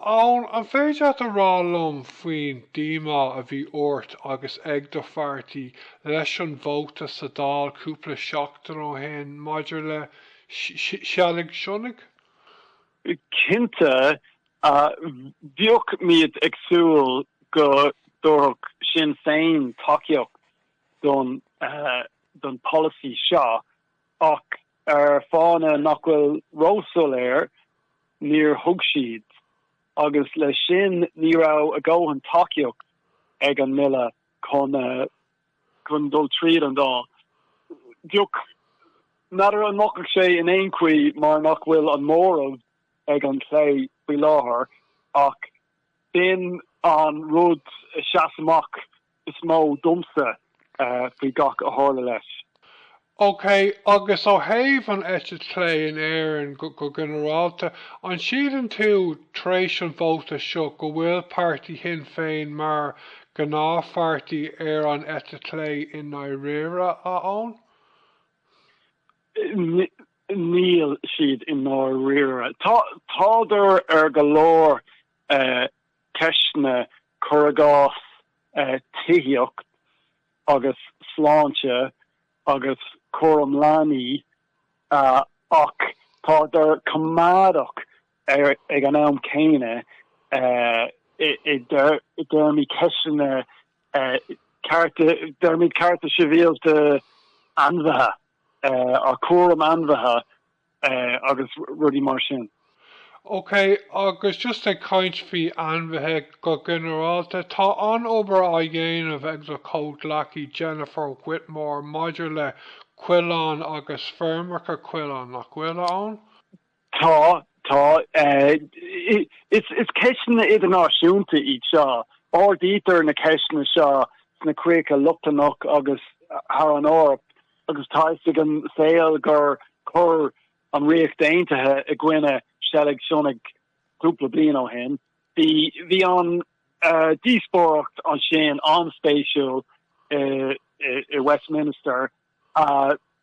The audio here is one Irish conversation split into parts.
Eoin, An féidir leat a rá liom faoin díomá a bhí ort agus ag do phairtí leis an vóta sa Dáil cúpla seachtain ó shin maidir le seilg sionnaigh? Cinnte, bhíodh muid ag súil go dtabharfadh Sinn Féin tacaíocht don pholasaí seo Ach ar fháthanna nach bhfuil ró-soiléir, níor thug siad, agus le sin ní raibh a dhóthain tacaíocht ag an mBille chun dul tríd an Dáil. N'fheadar an mbuafadh sé in aon chaoi mar nach bhfuil an móramh ag an chlé faoi láthair, ach b'in an rud a sheas amach is mó domsa faoi gach a tharla leis. OK, agus ó thaobh an eite chlé in Éirinn go ginearálta, an síleann tú, tar éis an vóta seo, go bhfuil páirtí Shinn Féin mar ghnáthpháirtí ar an eite chlé i ndáiríre, a Eoin? Níl siad i ndáiríre. Tádar ar go leor Ceisteanna, cuir i gcás, tithíocht agus sláinte agus cúram leanaí, ach tádar coimeádach ag an am céanna i dtéarmaí ceisteanna cearta, i dtéarmaí cearta sibhialta ainmhithe, cúram ainmhithe. eh, agus rudaí mar sin. Ok, agus just ag caint faoi ainmhithe go ginearálta, tá an-obair á dhéanamh ag do chomhghleacaí Jennifer Whitmore maidir le coileáin agus feirmeacha coileán, nach bhfuil, a Eoin? Tá, tá. Eh, is, is ceisteanna idirnáisiúnta iad seo. Ardaítear na ceisteanna seo sna Críocha Lochlannacha agus thar an Eoraip agus tá a fhios ag an saol gur chur an Ríocht Aontaithe i gcoinne seilg sionnaigh cúpla bliain ó shin. Bhí bhí an díospóireacht ansin an-spéisiúil i i Westminster,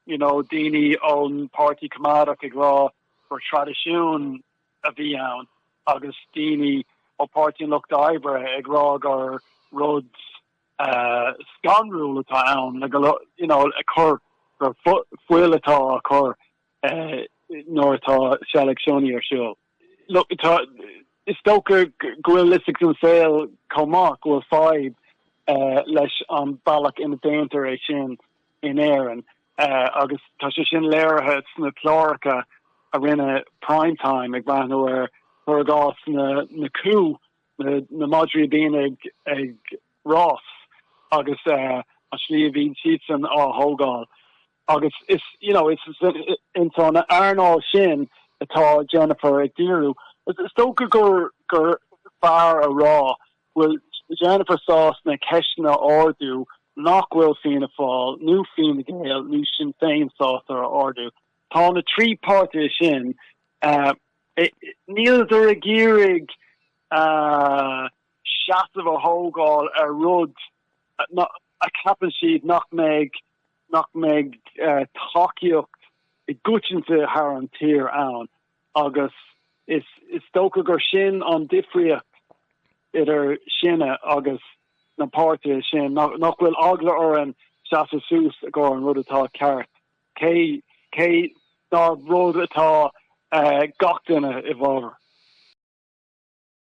you know, daoine ón Páirtí Coimeádach ag rá gur traidisiún a bhí ann agus daoine ó Pháirtí an Lucht Oibre ag rá gur rud scanrúil atá ann le go you know a cur gur fuil atá á cur nuair atá seilg sionnaigh ar siúl. Look tá is dócha go bhfuil fhios ag an saol chomh maith go bhfuil fadhb leis an bealach ina déantar é sin in Éirinn agus tá sé sin léirithe sna cláracha a rinne Prime Time ag breathnú ar chúrsáil na na cú na madraí a bhíonn ag rás agus an slí a bhíonn siadsan á thógáil agus is you know is ins an earnáil sin atá Jennifer ag díriú. Is dócha gur gur fearr a rá go bhfuil Jennifer sásta ceisteanna a ardú nach bhfuil Fianna Fáil nó Fine Gael nó Sinn Féin sásta a ardú. Tá na trí páirtithe sin, níl siad ag iarraidh seasamh a thógáil ar rud a cheapann siad nach mbeidh nach mbeidh tacaíocht go coitianta thar an tír ann agus is is dócha gur sin an difríocht idir sinne agus na páirtithe sin, nach bhfuil eagla orainn seasamh suas don rud atá ceart Cé ná rud atá gach duine i bhfábhar.